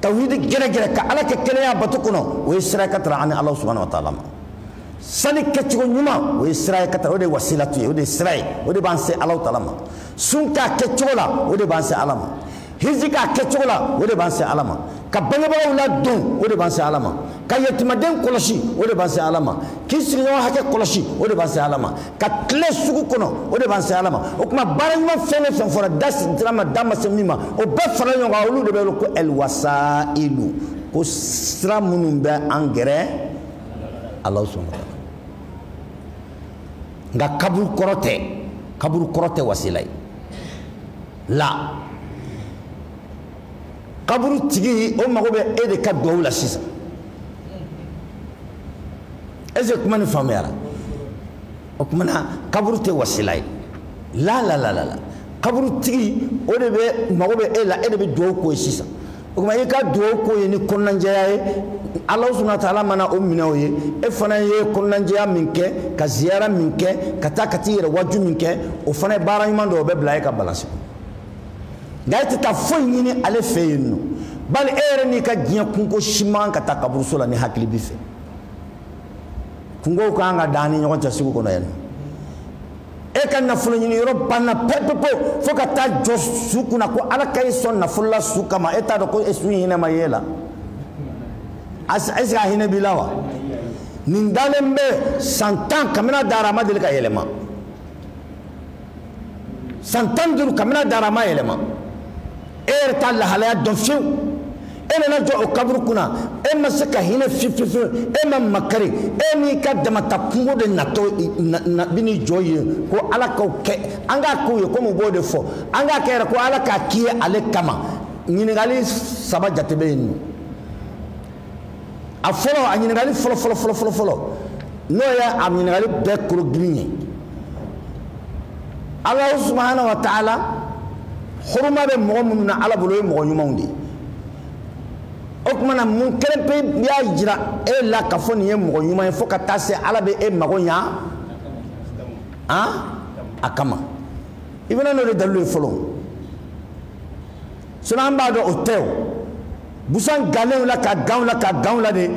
tawhidi gɛrɛgɛrɛ ka ala kɛ kelen y'a bato kɔnɔ o ye sira ye ka tara ani ala subhanahu wa taala ma sali kɛcogo ɲuman o ye sira ye ka tara o de ye wasilatu ye o de ye sira ye o de b'an se ala taala ma sun k'a kɛcogo la o de b'an se ala ma hiji k'a kɛcogo la o de b'an se ala ma ka bangebagaw ladon o de b'an se ala ma ka yatimaden kɔlɔsi o de b'an se ala ma k'i sigiɲɔgɔn hakɛ kɔlɔsi o de b'an se ala ma ka tilen sugu kɔnɔ o de b'an se ala ma o kuma baara ɲuman fɛn o fɛn fɔra da sera min ma da ma se min ma o bɛɛ fara ɲɔgɔn kan olu de bɛ wele ko ɛliwasailu ko sira minnu bɛ an gɛrɛ ala subhanahu wa taala nka kaburu kɔrɔ tɛ kaburu kɔrɔ tɛ wasila ye la kaburu tigi o mago bɛ e de ka dugawu la sisan est ce que kuma nin faamuyara o kuma na kaburu tɛ wasila ye la la la la la kaburu tigi o de bɛ mago bɛ e la e de bɛ dugawu k'o ye sisan o kuma i ka dugawu k'o ye ni kɔnɔnajɛya ye ala subahana taala mana o minɛ o ye e fana ye kɔnɔnajɛya min kɛ ka ziyara min kɛ ka taa ka t'i yɛrɛ waju min kɛ o fana ye baara ɲuman dɔ o bɛ bila e ka balansi kɔnɔ nka e tɛ taa foyi ɲini ale fɛ yen nɔ bali e yɛrɛ n'i ka diɲɛ kunko si man kan ka taa kaburuso la ni hakili b'i fɛ kunkow ka kan ka dan an ni ɲɔgɔn cɛ sugu kɔnɔ yan nɔ e ka nafolo ɲini yɔrɔ banna pepepewu fo ka taa jɔ su kunna ko ala ka e sɔn nafolo la su kama e t'a dɔn ko e su hinɛ ma ye la est ce que a hinɛ b'i la wa nin dalen bɛ san tan kabini a dara a ma deli ka yɛlɛma san tan duuru kabini a dara a ma yɛlɛma e yɛrɛ t'a lahalaya dɔn fiyewu e nana jɔ o kaburu kunna e ma se ka hinɛ fiyefiyefiyewu e ma makari e n'i ka damata kunko de natɔ na bi n'i jɔ yen ko ala k'o kɛ an k'a k'o ye komi u b'o de fɔ an k'a kɛ yɛrɛ ko ala k'a k'i ye ale kama ɲininkali saba jate bɛ yen nɔ a fɔlɔ a ɲininkali fɔlɔ fɔlɔ fɔlɔ fɔlɔ fɔlɔ n'o ye a ɲininkali bɛɛ kologirin ye alahu subahana wa taala huruma bɛ mɔgɔ minnu na ala bolo o ye mɔgɔ ɲumanw de ye o kuma na mun kelen pe y'a jira e la k'a fɔ nin ye mɔgɔ ɲuman ye fo ka taa se ala bɛ e mago ɲa a kama i bɛna n'o de dalilu ye fɔlɔ sinon an b'a dɔn o tɛ o busan gannen la ka gan u la ka gan u la de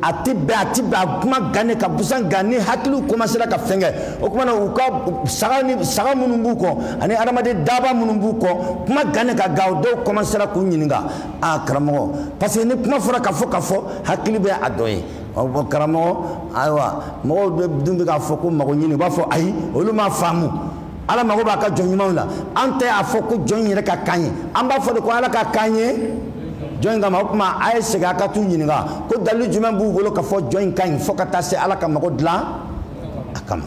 a tɛ bɛn a tɛ bɛn a kuma gannen ka busan gan ni hakiliw komasera ka fɛn kɛ o kuma na u ka saga ni saga minnu b'u kɔ ani adamaden daaba minnu b'u kɔ kuma gannen ka gan o dɔw komasera k'u ɲininka a karamɔgɔ parce que ni kuma fɔra ka fɔ ka fɔ hakili bɛ a dɔ ye ɔ karamɔgɔ ayiwa mɔgɔw dun bɛ k'a fɔ ko mago ɲini u b'a fɔ ayi olu m'a faamu. ala mago b'a ka jɔn ɲumanw la an tɛ a fɔ ko jɔn yɛrɛ k'a k'an ye an b'a fɔ de ko ala k'a k'an ye jɔn in kama o tuma a ye segin a ka t'u ɲininka ko dalilu jumɛn b'u bolo k'a fɔ jɔn in ka ɲi fo ka taa se ala ka mago dilan a kama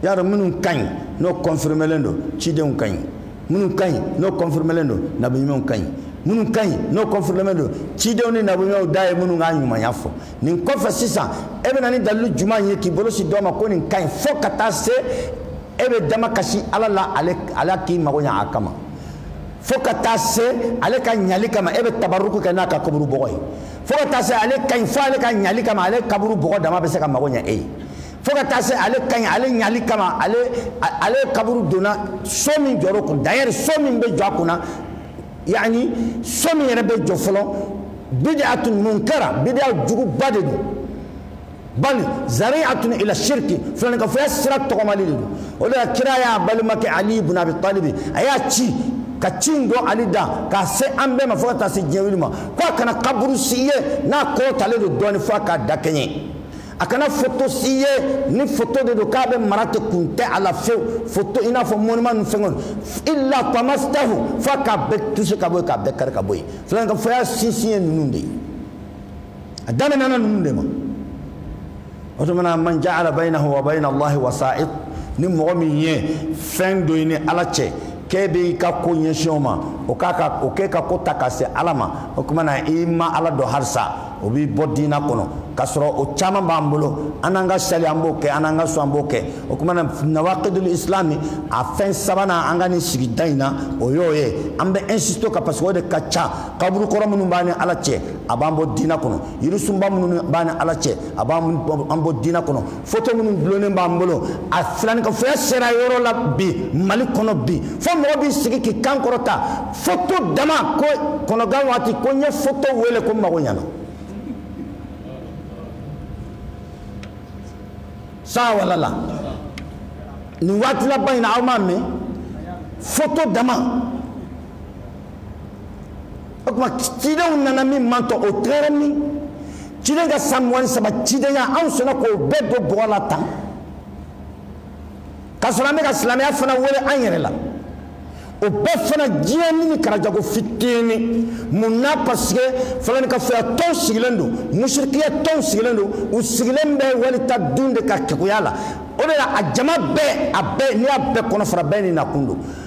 y'a dɔn minnu ka ɲi n'o kɔnfirmelen don cidenw ka ɲi minnu ka ɲi n'o kɔnfirmelen don nabiɲumanw ka ɲi minnu ka ɲi n'o kɔnfirmelen don cidenw ni nabiɲumanw da ye minnu ka ɲumanya fɔ nin kɔfɛ sisan e bɛna ni dalilu jumɛn ye k'i bolo sin dɔ ma ko nin ka ɲi fo ka taa se e bɛ damakasi ala la ala k'i mago ɲa a kama fo ka taa se ale ka ɲali kama e bɛ tabaruku kɛ n'a ka kaburu bɔgɔ ye fo ka taa se ale ka ɲi fo ale ka ɲali kama ale kaburu bɔgɔ dama bɛ se ka mago ɲa e ye fo ka taa se ale ka ɲi ale ɲali kama ale ale kaburu donna so min jɔr'o kun d'ailleurs so min bɛ jɔ a kunna yani so min yɛrɛ bɛ jɔ fɔlɔ bid'atun munkara bid'a juguba de don bali zari'atun ila shirki filanikafoya sira tɔgɔmali de don o de la kira y'a balimakɛ ali ibn abi talibi a y'a ci ka ci in don ali da k'a se an bɛɛ ma fo ka taa se diɲɛ wuli ma ko a kana kaburu si ye n'a kɔrɔtalen don dɔɔnin fo a k'a dakɛɲɛ a kana foto si ye ni foto de don k'a bɛ mara ten kun tɛ a la fewu foto i n'a fɔ monument ninnu fɛngɛw illa tamastahu f'a k'a bɛɛ touché ka bɔ yen k'a bɛɛ kari ka bɔ yen filanikafoya sinsin ye ninnu de ye a daminɛna ninnu de ma o tuma na man ja'ala baynahu wa bayna allahi wasa'it ni mɔgɔ min ye fɛn don i ni ala cɛ k'e bɛ i ka ko ɲɛsin o ma o k'e ka ko ta ka se ala ma o tuma na i ma ala dɔn halisa o b'i bɔ diina kɔnɔ k'a sɔrɔ o caman b'an bolo an n'an ka sali an b'o kɛ an n'an ka sun an b'o kɛ o tuma na nawakidul islami a fɛn sabanan an ka nin sigida in na o y'o ye an bɛ insister o kan parce que o de ka ca kaburu kɔrɔ minnu b'an ni ala cɛ a b'an bɔ diina kɔnɔ yirisunba minnu b'an ni ala cɛ a b'an bɔ diina kɔnɔ foto minnu dulonnen b'an bolo a filanikafoya sera yɔrɔ la bi mali kɔnɔ bi fo mɔgɔ b'i sigi k'i kan kɔrɔta foto dama ko kɔnɔgan waati ko n ye foto wele ko n mago ɲana sa walala nin waati laban in na aw m'a mɛn foto dama o tuma cidenw nana min man tɔ o tagara min ciden ka san mugan ni saba cidenya anw sɔnna k'o bɛɛ don bɔgɔ la tan k'a sɔrɔ an bɛ ka silamɛya fana wele an yɛrɛ la o bɛɛ fana diɲɛnin in karajago fitini mun na parce que filanikafoya tɔnw sigilen don musirikiya tɔnw sigilen don u sigilen bɛ wali ta dun de ka keguya la o de la a jama bɛɛ a bɛɛ n'i y'a bɛɛ kɔnɔ fara bɛɛ n'i nakun don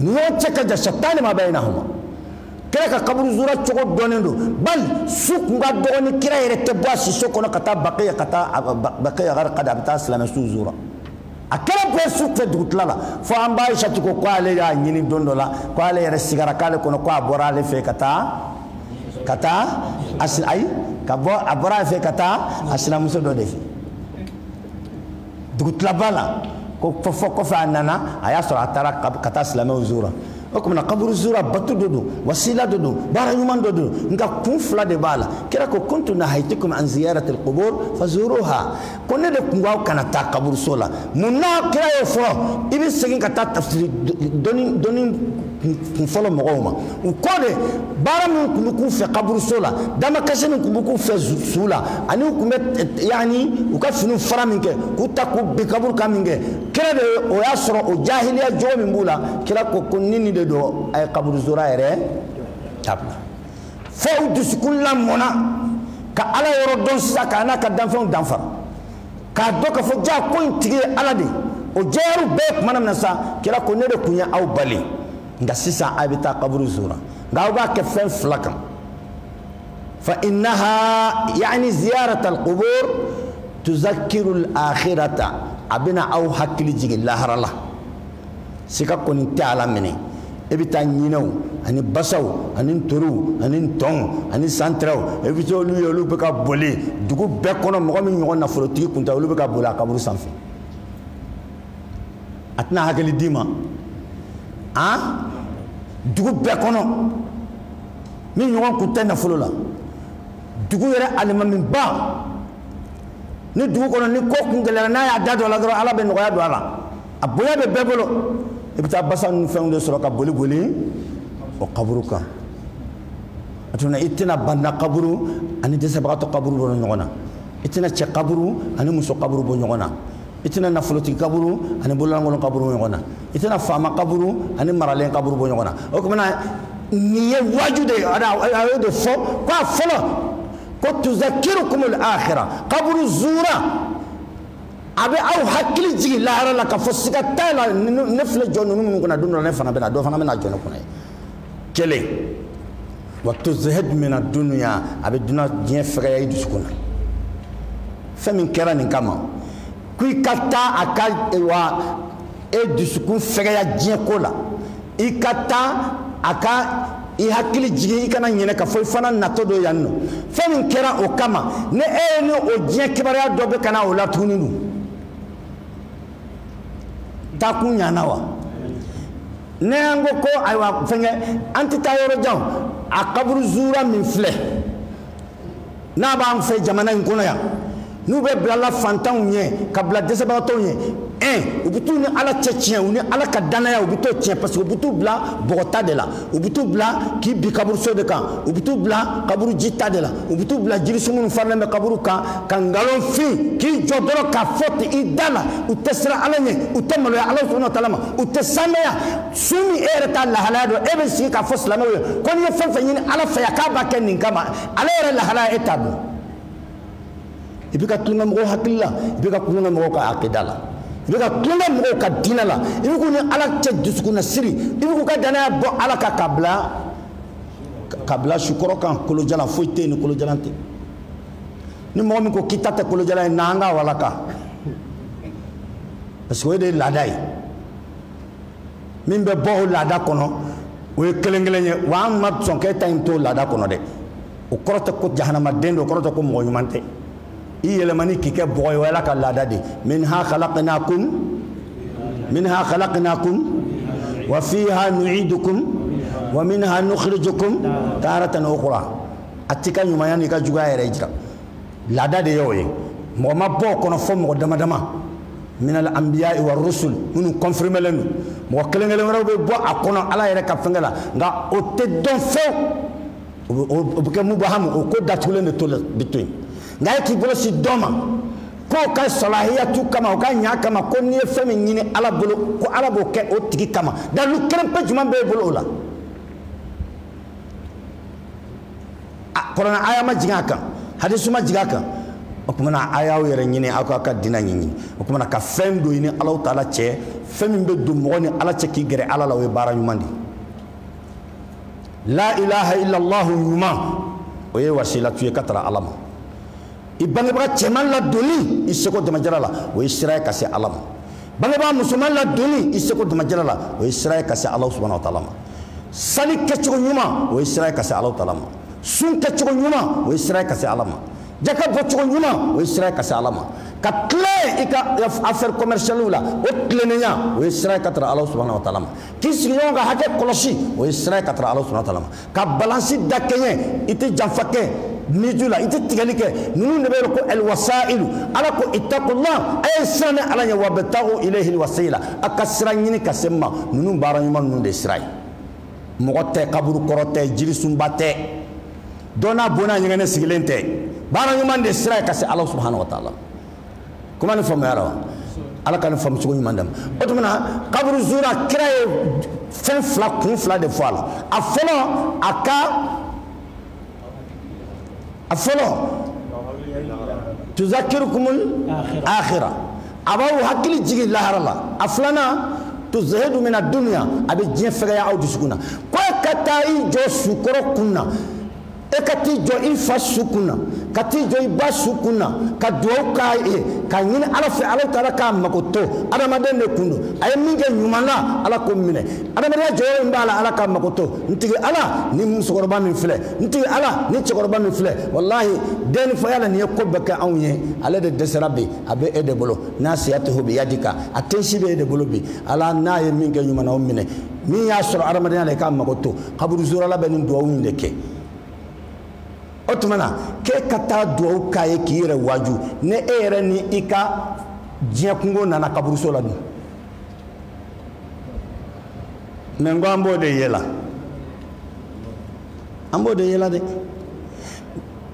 ɲɔgɔn cɛ ka jan shattana ma baynahuma kira ka kaburu zura cogo dɔnnen don bali su kun ka dɔgɔ ni kira yɛrɛ tɛ bɔ a siso kɔnɔ ka taa baqiya ka taa baqiya garqada a bɛ taa silamɛ su zura a kɛra bɛɛ su fɛ dugutila la fo an ba ayisatu ko ko ale y'a ɲini don dɔ la ko ale yɛrɛ sigara k'ale kɔnɔ ko a bɔra ale fɛ ka taa ka taa ayi ka bɔ a bɔra ale fɛ ka taa a sinamuso dɔ de fɛ dugutilaba la ko fo kɔfɛ a nana a y'a sɔrɔ a taara ka taa silamɛw zura o kuma na kaburu zura bato dɔ don wasila dɔ don baara ɲuman dɔ don nka kun fila de b'a la kira ko kuntu nahayitukum an ziyaratil qubur fazuruha ko ne de kun k'aw kana taa kaburuso la mun na kira y'o fɔ i bɛ segin ka taa tafsiri dɔɔnin dɔɔnin kun fɔlɔ mɔgɔw ma u kɔ de baara min kun bɛ k'u fɛ kaburuso la damakasi min kun bɛ k'u fɛ su la ani u kun bɛ eh, yaani u ka finiw fara min kɛ k'u ta k'u bin kaburu kan min kɛ kira de o y'a sɔrɔ o jahiliya jogo min b'u la kira ko ko ni nin de don a ye kaburu zura yɛrɛ dabila fo u dusukun lamɔna ka ala yɔrɔ dɔn sisan k'a n'a ka danfɛnw danfara k'a dɔn k'a fɔ jaa ko in tigi ye ala de o jɛyara u bɛɛ tuma na min na sa kira ko ne de kun ye aw bali nka sisan a bɛ taa kaburu zura nka aw b'a kɛ fɛn fila kan fa innaha yaani ziyarata alqubur tuzakiru alakhirata a bɛna aw hakili jigin lahara la siga kɔni tɛ a la minɛ e bɛ taa ɲinɛw ani basaw ani ntoriw ani ntɔnw ani santirɛw e bɛ taa olu ye olu bɛ ka boli dugu bɛɛ kɔnɔ mɔgɔ min ɲɔgɔn nafolotigi kun tɛ olu bɛ ka boli a kaburu sanfɛ a tɛna hakili d'i ma an dugu bɛɛ kɔnɔ min ɲɔgɔn kun tɛ nafolo la dugu yɛrɛ alimamiba ni dugu kɔnɔ ni ko kun gɛlɛyara n'a y'a da don a la dɔrɔn ala bɛ nɔgɔya don a la a bonya bɛ bɛɛ bolo i bɛ taa basa ninnu fɛnw de sɔrɔ ka boli boli o kaburu kan a tuma i tɛna baana kaburu ani dɛsɛbagatɔ kaburu bɔ ɲɔgɔn na i tɛna cɛ kaburu ani muso kaburu bɔ ɲɔgɔn na i tɛna nafolotigi kaburu ani bololankolon kaburu bɔ ɲɔgɔn na i tɛna faama kaburu ani maralen kaburu bɔ ɲɔgɔn na o kuma na nin ye waaju de ye a y'o de fɔ ko a fɔlɔ ko tuzakirukumul akhira kaburu zuura a bɛ aw hakili jigin lahara la k'a fɔ siga t'a la ne filɛ jɔ ninnu minnu kunna don dɔ la ne fana bɛna dɔ fana bɛna jɔ ne kunna ye kelen wa tuzahid mina dunuya a bɛ duna diɲɛ fɛgɛya i dusukun na fɛn min kɛra nin kama ko i ka taa a ka wa e dusukun fɛgɛya diɲɛko la i ka taa a ka i hakili jigin i kana ɲinɛ k'a fɔ i fana natɔ don yan nɔ fɛn min kɛra o kama ni e ye ni o diɲɛ kibaruya dɔ bɛ ka na o la tuguni dun taakun ɲana wa ne an ko ko ayiwa fɛnkɛ an tɛ taa yɔrɔ jan a kaburu zuura min filɛ n'a b'an fɛ jamana in kɔnɔ yan n'u bɛ bilala fantanw ɲɛ ka bila dɛsɛbagatɔw ɲɛ un u bɛ t'u ni ala cɛ tiɲɛ u ni ala ka dannaya u bɛ t'o tiɲɛ parce que u bɛ t'u bila bɔgɔta de la u bɛ t'u bila k'i bin kaburuso de kan u bɛ t'u bila kaburu ji ta de la u bɛ t'u bila jirisun minnu farilen bɛ kaburu kan ka nkalon fin k'i jɔ dɔrɔn k'a fɔ ten i da la u tɛ siran ala ɲɛ u tɛ maloya ala subahana wa taala ma u tɛ saamɛya su min e yɛrɛ t'a lahalaya dɔn e bɛ sigi k'a fɔ silamɛw ye ko n'i ye fɛn fɛn ɲini ala fɛ yan k'a b'a kɛ nin kama ale yɛrɛ lahalaya e t'a dɔn i bɛ ka tulonkɛ mɔgɔw hakili la i bɛ ka tulonkɛ mɔgɔw ka akida la i bɛ ka tulonkɛ mɔgɔw ka diinɛ la i bɛ k'u ni ala cɛ dusukunnasiri i bɛ k'u ka danaya bɔ ala kan k'a bila k'a bila sukɔrɔ kan kolojalan foyi tɛ yen ni kolojalan tɛ ni mɔgɔ min ko k'i ta tɛ kolojalan ye na an k'a walaka parce que o de ye laada ye min bɛ bɔ o laada kɔnɔ o ye kelen kelen ye wa an ma sɔn k'e ta in to laada kɔnɔ dɛ o kɔrɔ tɛ ko jahanamaden don o kɔrɔ tɛ ko mɔgɔ ɲuman tɛ i yɛlɛmani k'i kɛ bɔgɔ ye o y'ala ka laada de minha khalaqnakum wa fiha nu'idukum wa minha nukhrijukum taratan ukhra a t'i ka ɲumanya n'i ka juguya yɛrɛ jira laada de y'o ye mɔgɔ ma bɔ o kɔnɔ fo mɔgɔ dama dama minal anbiya'i wa rusul minnu confirmelen don mɔgɔ kelen kelen wɛrɛw bɛ bɔ a kɔnɔ ala yɛrɛ ka fɛnkɛ la nka o tɛ dɔn fewu o bɛ kɛ mubahamu o ko datugulen de bɛ to yen nka e k'i bolo sin dɔ ma k'o ka salahiyatu kama o ka ɲa kama ko n'i ye fɛn min ɲini ala bolo ko ala b'o kɛ o tigi kama dalu kelen pe jumɛn b'e bolo o la kuranɛ aya ma jigin a kan hadisi ma jigin a kan o kumana a y'aw yɛrɛ ɲini aw ka dina ɲini o kumana ka fɛn dɔ ɲini alahu taala cɛ fɛn min bɛ don mɔgɔ ni ala cɛ k'i gɛrɛ ala la o ye baara ɲuman de la ilaha illallah ɲuman o ye wasilatu ye ka tara ala ma i bangebaga cɛman ladonni i seko damajara la o ye sira ye ka se ala ma bangebaga musoman ladonni i seko damajara la o ye sira ye ka se ala subahana wa taala ma sali kɛcogo ɲuman o ye sira ye ka se ala taala ma sun kɛcogo ɲuman o ye sira ye ka se ala ma jaka bɔcogo ɲuman o ye sira ye ka se ala ma ka tilen i ka affaire commercialiw la o tilennenya o ye sira ye ka tara ala subahana wa taala ma k'i sigiɲɔgɔn ka hakɛ kɔlɔsi o ye sira ye ka tara ala subahana wa taala ma ka balansi dakɛɲɛ i tɛ janfa kɛ miju la i tɛ tigɛli kɛ ninnu de bɛ wele ko alwasailu ala ko ittaqullah a ye siran ne ala ɲɛ wabtagu ilayhil wasila a ka sira ɲini ka se n ma ninnu baara ɲuman ninnu de sira ye mɔgɔ tɛ kaburu kɔrɔ tɛ jirisunba tɛ dɔ n'a bo n'a ɲɛgɛnɛ sigilen tɛ baara ɲuman de sira ye ka se ala subahana wa taala kuma nin faamuyala wa ala ka nin faamucogo ɲuman d'an ma o tuma na kaburu zura kira ye fɛn fila kun fila de fɔ a la a fɔlɔ a ka a fɔlɔ tuzakirukumul akhira a b'aw hakili jigin lahara la a filanan tuzahidu mina duniya a bɛ diɲɛ fɛgɛya aw dusukun na ko e ka taa i jɔ su kɔrɔ kun na e ka t'i jɔ i fa su kun na ka t'i jɔ i ba su kun na ka duwawu k'a ye k'a ɲini ala fɛ ala taala k'a mago to adamaden de kun don a ye min kɛ ɲuman na ala k'o minɛ adamadenya jɔyɔrɔ min b'a la ala k'a mago to n tigi ala nin musokɔrɔba min filɛ n tigi ala nin cɛkɔrɔba min filɛ walahi den ni faya la nin ye ko bɛɛ kɛ anw ye ale de dɛsɛra bi a bɛ e de bolo nasiyatuhu biyadika a tensi bɛ e de bolo bi ala n'a ye min kɛ ɲuman na o minɛ min y'a sɔrɔ adamadenya la i k'a mago to kaburuzurala bɛ nin duwawu in de kɛ o tuma na k'e ka taa duwawu k'a ye k'i yɛrɛ waaju ni e yɛrɛ ni i ka diɲɛ kunko nana kaburuso la dun mɛ n ko an b'o de yela an b'o de yela dɛ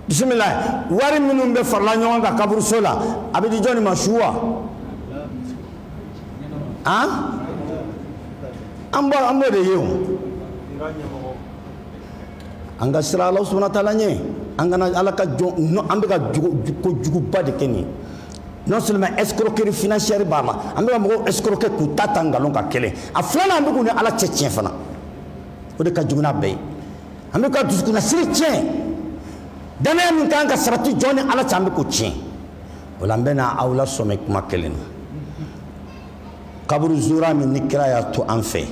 bisimila wari minnu bɛ farala ɲɔgɔn kan kaburuso la a bɛ di jɔni ma su wa an an bɔ an b'o de ye o an ka siran ala subahana taala ɲɛ an kana ala ka jɔn nɔ an bɛ ka kojuguba de kɛ nin ye non seulement escroquerie financière b'a la an bɛ ka mɔgɔw escroquer k'u ta ta nkalon kan kelen a filanan an bɛ k'u ni ala cɛ tiɲɛ fana o de ka jugu n'a bɛɛ ye an bɛ ka dusukunnasiri tiɲɛ danaya min ka kan ka sabati jɔn ni ala cɛ an bɛ k'o tiɲɛ o la n bɛna aw lasɔmi kuma kelen na kaburu zura min ni kira y'a to an fɛ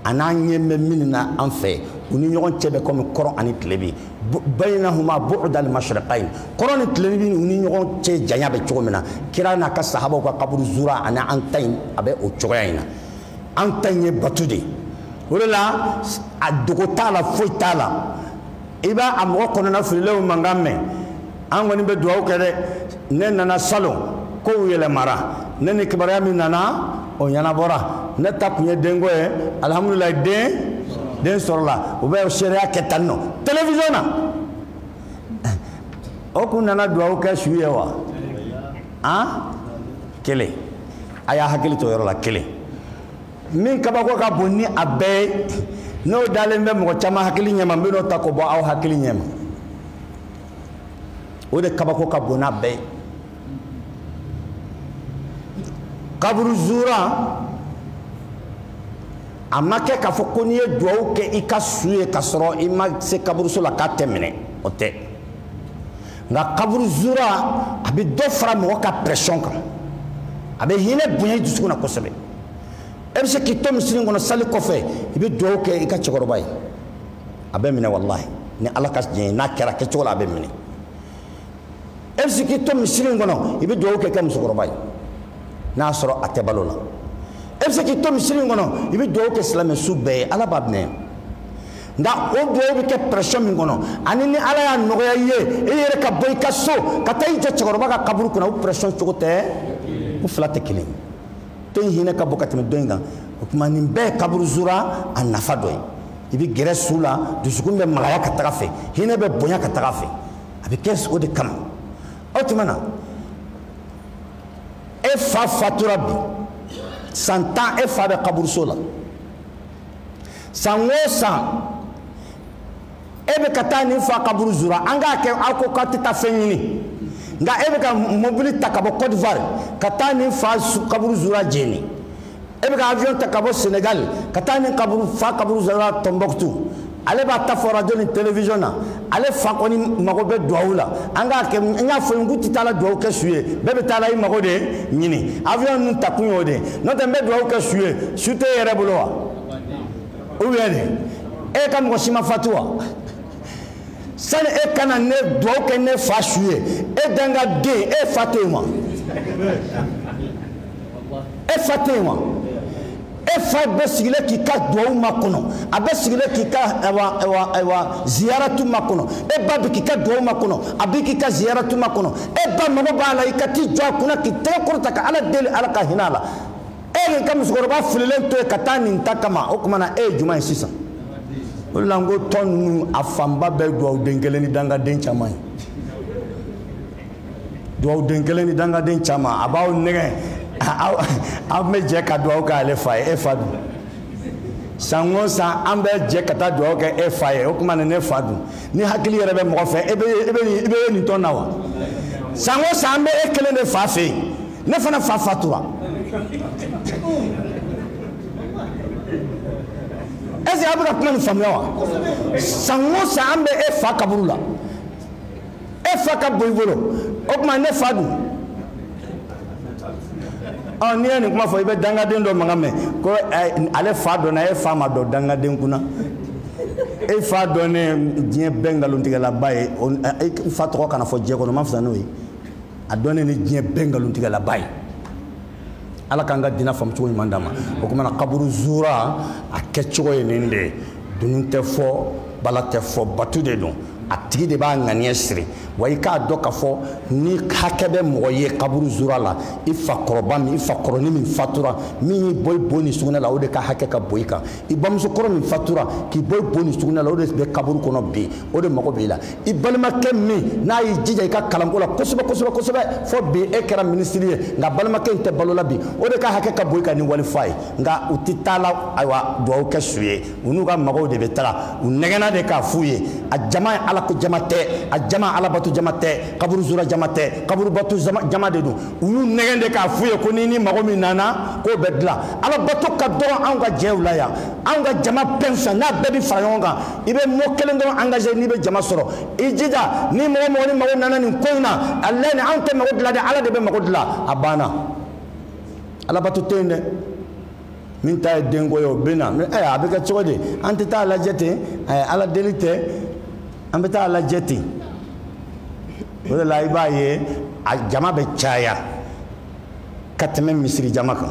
a n'an ɲɛ bɛ min na an fɛ u ni ɲɔgɔn cɛ bɛ kɔmi kɔrɔn ani tilebin bayinahuma bu'dal mashriqayn kɔrɔn ni tilebin u ni ɲɔgɔn cɛ janya bɛ cogo min na kira n'a ka sahabaw ka kaburu zura ani an ta in a bɛ o cogoya in na an ta in ye batu de ye o de la a dogo t'a la foyi t'a la i b'a mɔgɔ kɔnɔnafililenw mankan mɛn an kɔni bɛ dugawu kɛ dɛ ne nana salon kow yɛlɛmara ne ni kibaruya min nana o ɲɛnabɔra ne ta tun ye denko ye alihamudulilayi den den sɔrɔla u bɛ seereya kɛ tan nɔ telewisɔn na o kun nana dugawu kɛ su ye wa an kelen a y'a hakili to yɔrɔ la kelen min kabako ka bon ni a bɛɛ ye n'o dalen bɛ mɔgɔ caman hakili ɲɛma n bɛ n'o ta k'o bɔ aw hakili ɲɛma o de kabako ka bon n'a bɛɛ ye kaburu zura a ma kɛ k'a fɔ ko n'i ye duwawu kɛ i ka su ye k'a sɔrɔ i ma se kaburuso la k'a tɛ minɛ o tɛ nka kaburu zura a bɛ dɔ fara mɔgɔ ka pression kan a bɛ hinɛ bonya i dusukun na kosɛbɛ e bɛ se k'i to misiri kɔnɔ sali kɔfɛ i bɛ dugawu kɛ i ka cɛkɔrɔba ye a bɛ minɛ walahi ni ala ka se ye n'a kɛra kɛcogo la a bɛ minɛ e bɛ se k'i to misiri kɔnɔ i bɛ dugawu kɛ i ka musokɔrɔba ye n'a y'a sɔrɔ a tɛ balo la e bɛ se k'i to misiri kɔnɔ i bɛ dugawu kɛ silamɛsu bɛɛ ye ala b'a minɛ nka o dugawu bɛ kɛ pression min kɔnɔ ani ni ala y'a nɔgɔya i ye e yɛrɛ ka bɔ i ka so ka taa i jɔ cɛkɔrɔba ka kaburu kunna o pression cogo tɛ u fila tɛ kelen ye tɔ in hinɛ ka bon ka tɛmɛ dɔ in kan o tuma nin bɛɛ kaburu zura a nafa dɔ ye i bɛ gɛrɛ su la dusukun bɛ magaya ka taga a fɛ hinɛ bɛ bonya ka taga a fɛ a bɛ kɛ o de kama o tuma na e fa fatura bi san tan e fa bɛ kaburuso la san o san e bɛ ka taa nin fa kaburu zura an k'a kɛ aw ko k'aw tɛ taa fɛn ɲini nka e bɛ ka mobili ta ka bɔ côte d'ivoire ka taa nin fa kaburu zura jɛnɛ e bɛ ka avion ta ka bɔ sénégal ka taa nin kaburu fa kaburu zura tombouctou ale b'a ta fɔ radio ni télévision na ale fa kɔni mago bɛ duwawu la an k'a kɛ n y'a fɔ n k'u tɛ taa la duwawu kɛ su ye bɛɛ bɛ taa la i mago de ɲini avion ninnu ta kun y'o de ye n'o tɛ n bɛ duwawu kɛ su ye su tɛ e yɛrɛ bolo wa ou bien e ka mɔgɔ si ma fatu wa sani e ka na ne dugawu kɛ ne fa su ye e dangaden e fa tɛ yen wa e fa tɛ yen wa e fa bɛ sigilen k'i ka dugawu makɔnɔ a bɛ sigilen k'i ka ziyaratu makɔnɔ e ba bɛ k'i ka dugawu makɔnɔ a bɛ k'i ka ziyaratu makɔnɔ e ba mago b'a la i ka t'i jɔ a kunna k'i tɛgɛ kɔrɔta ka ala deli ala ka hinɛ a la. e y'i ka musokɔrɔba fililen to yen ka taa nin ta kama o tuma na e ye jumɛn ye sisan o de la n ko tɔn ninnu a fanba bɛɛ dugawuden kelen ni dangaden caman ye dugawuden kelen ni dangaden caman a b'aw nɛgɛn aw bɛ jɛ ka dugawu kɛ ale fa ye e fa dun san o san an bɛ jɛ ka taa dugawu kɛ e fa ye o tuma na ne fa dun ni hakili yɛrɛ bɛ mɔgɔ fɛ e bɛ e bɛ e bɛ nin tɔn na wa san o san an bɛ e kelen de fa fɛ yen. ne fana fa fatura est ce que a bɛ ka kuma nin faamuya wa san o san an bɛ e fa kaburu la e fa ka bon i bolo o tuma ne fa dun ɔ n'i ye nin kuma fɔ i bɛ dangaden dɔ mankan mɛn ko ale fa dɔnna e fa ma dɔn dangaden kunna e fa dɔnnen diɲɛ bɛɛ nkalontigɛlaba ye e fa tɔgɔ kana fɔ diɲɛ kɔnɔ man fisa n'o ye a dɔnnen ni diɲɛ bɛɛ nkalontigɛlaba ye ala k'an ka diina faamu cogo ɲuman d'an ma o kuma na kaburu zura a kɛcogo ye nin de ye dunun tɛ fɔ bala tɛ fɔ bato de don a tigi de b'a ŋaniya siri wa i k'a dɔn k'a fɔ ni hakɛ bɛ mɔgɔ ye kaburu zura la i fakɔrɔba min i fakɔrɔni min fatura min y'i bɔ i bo ni sugunɛ la o de ka hakɛ ka bon i kan i bamusokɔrɔ min fatura k'i bɔ i bo ni sugunɛ la o de bɛ kaburu kɔnɔ bi o de mago b'i la i balimakɛ min n'a y'i jija i ka kalanko la kosɛbɛ kosɛbɛ kosɛbɛ fo bi e kɛra minisiri ye nka balimakɛ in tɛ balo la bi o de ka hakɛ ka bon i kan ni wali fa ye nka u tɛ taa la ayiwa dugawu kɛ su ye u n'u ka mɔgɔw de bɛ taga u nɛgɛnna de k'a f'u ye a jama ye alako jama tɛ a jama alabato jama tɛ kaburu zura jama tɛ kaburu bato jama de don u y'u nɛgɛn de k'a f'u ye ko ni mago min nana k'o bɛ dilan alabato ka dɔgɔ anw ka jɛw la yan anw ka jama bɛɛ fisa n'a bɛɛ bɛ fara ɲɔgɔn kan i bɛ mot kelen dɔrɔn engagé n'i bɛ jama sɔrɔ i jija ni mɔgɔ o mɔgɔ ni mago nana nin ko in na a lɛ ni anw tɛ mago dilan dɛ ala de bɛ mago dilan a banna alabato tɛ yen dɛ min ta ye denko ye o bɛ na eh, a bɛ kɛ cogo di an tɛ taa lajɛ ten eh, ala deli tɛ an bɛ taa lajɛ ten o de la i b'a ye a jama bɛ caya ka tɛmɛ misiri jama kan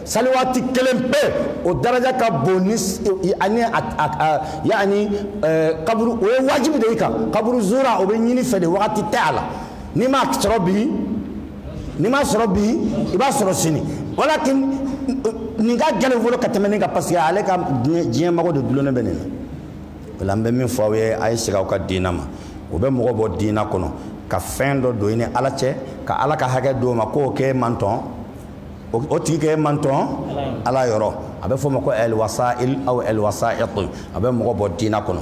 saliwaati kelen pe o daraja ka bon ni ani yani kaburu o ye wajibi de i kan kaburu zura o bɛ ɲini i fɛ de wagati tɛ a la n'i m'a sɔrɔ bi n'i m'a sɔrɔ bi i b'a sɔrɔ sini walakin nin ka gɛlɛn fɔlɔ ka tɛmɛ nin kan parce que ale ka diɲɛ mago de dulonnen bɛ nin na o la n bɛ min fɔ aw ye a ye segin aw ka diina ma o bɛ mɔgɔ bɔ diina kɔnɔ ka fɛn dɔ don i ni ala cɛ ka ala ka hakɛ d'o ma k'o k'e mantɔn o tigi kɛ i mantɔn ala yɔrɔ a bɛ fɔ o ma ko ɛlwasail aw ɛlwasait a bɛ mɔgɔ bɔ diina kɔnɔ